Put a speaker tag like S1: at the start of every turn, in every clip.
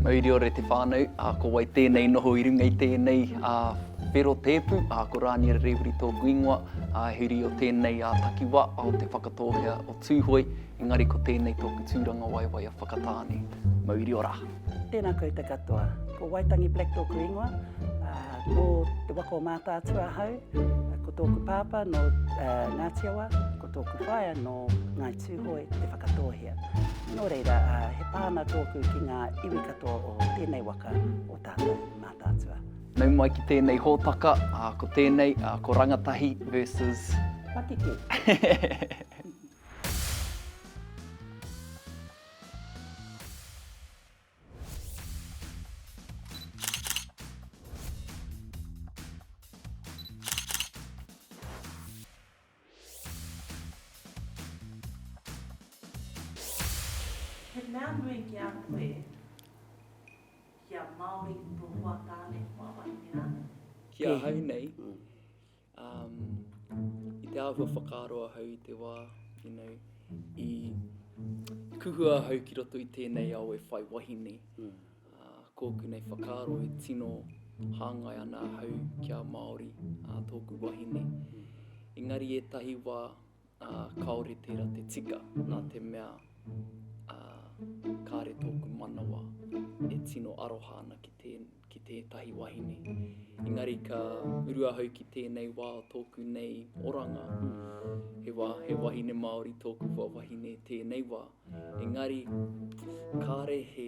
S1: Mauriore te whānau, ā, ko wai tēnei noho i runga i tēnei, ā, whero tēpu, ā, ko Rāniera Rēwiri tōku ingoa, ā, he uri o tēnei, ā, takiwā, ā, o Te Whakatōhea o Tūhoe, engari ko tēnei tōku tūrangawaewae a Whakatāne. Mauri ora! Tēnā koutou
S2: katoa. Ko Waitangi Black tōku ingoa, ā, nō te waka o Mātaatua ahau, ko tōku pāpā nō, ā, Ngāti Awa, ko tōku whaea nō Ngāi Tūhoe te Whakatōhea. Nō reira, he pā ana tōku ki ngā iwi katoa o tēnei waka o tātou mātātua. Nau mai ki
S1: tēnei hōtaka, ko tēnei, ko Rangatahi versus... Patiki.
S3: He mea nui ki a koe, ki a Māori to hoa tāne, hoa wahine rānei? Ki ahau
S1: nei, i te āhua whakaaro ahau i te wā, you know, i kuhua ahau ki roto i tēnei ao e whai wahine, Kōku nei whakaaro e tino hāngai ana ahau kia Māori tōku wahine. Engari ētahi wā kāore tērā te tika nā te mea kāre tōku manawa e tino aroha ana ki tētahi wahine. Engari ka uru ahau ki tēnei wā o tōku nei oranga, he wā, he wahine Māori tōku wahine tēnei wā. Engari kāre he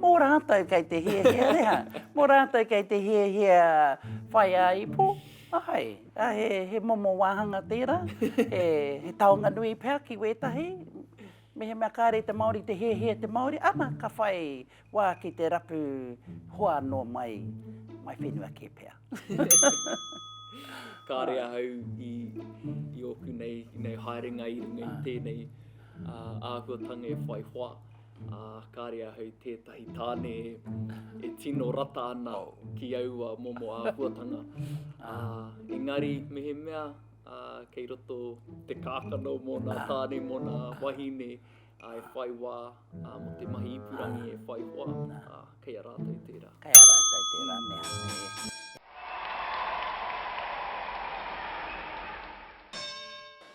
S2: Mō rātou kei te hiahia rā, mō rātou kei te hiahia whai ā-ipo, āe, ā, he, he momo wāhanga tērā, he, he taonga nui pea ki wētahi, mehemea kāre i te Māori te hiahia te Māori, ana, ka whai wā ki te rapu hoa anō mai, mai whenua kē pea.
S1: Kāre ahau i, i ōku nei, nei haerenga i runga i tēnei āhuatanga e whai hoa. Ā, kāre ahau i tētahi tāne e tino rata ana ki aua momo āhuatanga. Ā, engari mehemea ā, kei roto te kākano mō nā tāne, mō nā wahine ā, e whai wā ā, mō te mahi ipurangi e whai hoa, ā, kei a rātou tērā. Kei a rātou tērā
S2: mea e.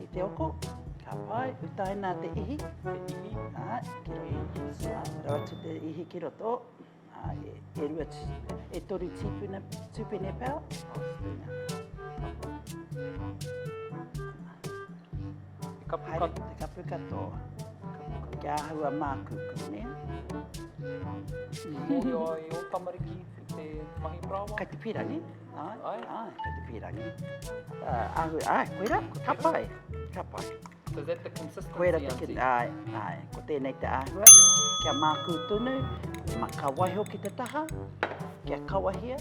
S2: I te oko, ka pai, utaina te ihi,
S1: ki
S2: roto, aro atu te ihi ki roto, e rua, e toru tīpuna, tūpene pau. Te kapu
S1: katoa. Haere, te kapu
S2: katoa. Kia ahua māku, kune. Mōhio
S1: ai o tamariki te mahi parāoa? Kai te pira, ne?
S2: Ai,
S1: ai. Kei te pīrangi.
S2: Uh, ahu, ai, koera, ko tapai. Tapai. So is that the consistency?
S1: Koera te kin, ai, ai.
S2: Ko tēnei te āhua. Kia mākū tunu, ma ka waiho ki te taha, kia kawahia,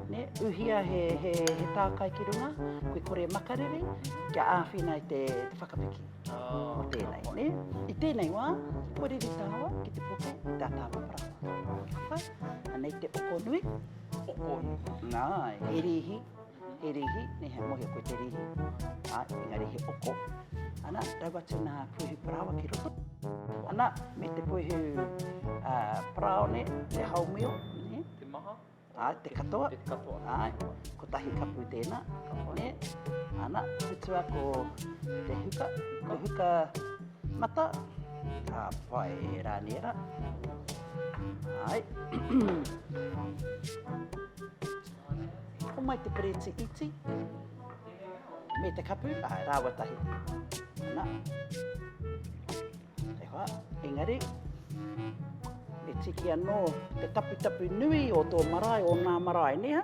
S2: ne, uhia he, he, he tākai ki runga, kui kore makariri, kia āwhina i te, te whakapiki. Oh, o tēnei, ne? I tēnei wā, kore ri tāwa ki te puku, tā tāwa parāwa. Hapa, anei te oko nui. Okoi.
S1: Nāe, he rīhi,
S2: he rīhi, nē, he mohi koe te rīhi. Ā, engari he oko. Ana, rau atu nā puehu parāoa ki roto. Ana, me te puehu parāone, te haumio, nē. Te maha.
S1: Ā, te katoa.
S2: Te katoa. Āe,
S1: kotahi
S2: kapu tēnā, nē. Ana, tutua ko te huka, ko huka. Mata. Ka pai, e rā ni e rā. Ai. Homai te pereti iti. Me te kapu, ai, rāwa tahi. Ana. E hoa, engari. E tiki anō te taputapu nui o tō marae, o nā marae, neha?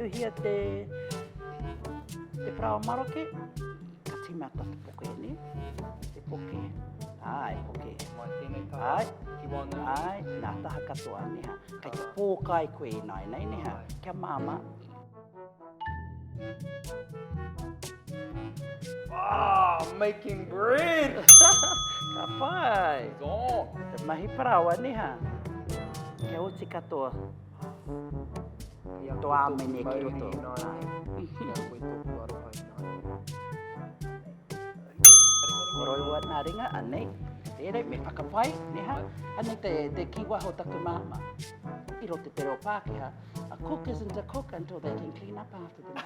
S2: Tuhia te parawa maroke, ka tīmata te poke e ni, te poke, ai, poke. Mai tēnei taha,
S1: ai, ki wāna.
S2: Ai,
S1: nā taha
S2: katoa, neha. Kei te pōkai koe i nāinei, neha, kia māmā.
S1: Ah, making bread! Ka
S2: pai! Oh,
S1: te mahi parawa
S2: ni ha. Kia oti katoa. Ia to amene ki roto. Moroi wa na ringa anei. Tere me whakapai, ni ha. Anei te, te kiwa ho taku mama. I rote te reo Pākehā. A cook isn't a cook until they can clean up after them.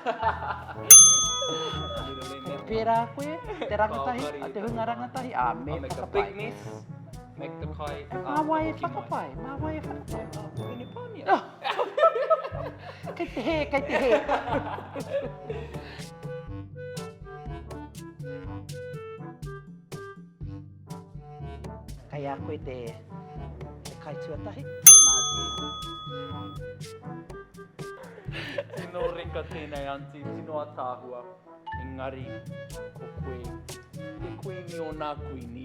S2: Kei pērā koe, te rangatahi, a te hunga rangatahi, a me I'll make a big mess,
S1: make the kai. E mā wai e whakapai,
S2: mā wai e whakapai. Oh, pēne pānia. kei te hē, kei te hē. Kei a koe te kai tuatahi. Tino
S1: reka tēnei aunty, tino ataahua. Engari, ko koe te kuini o nā kuini.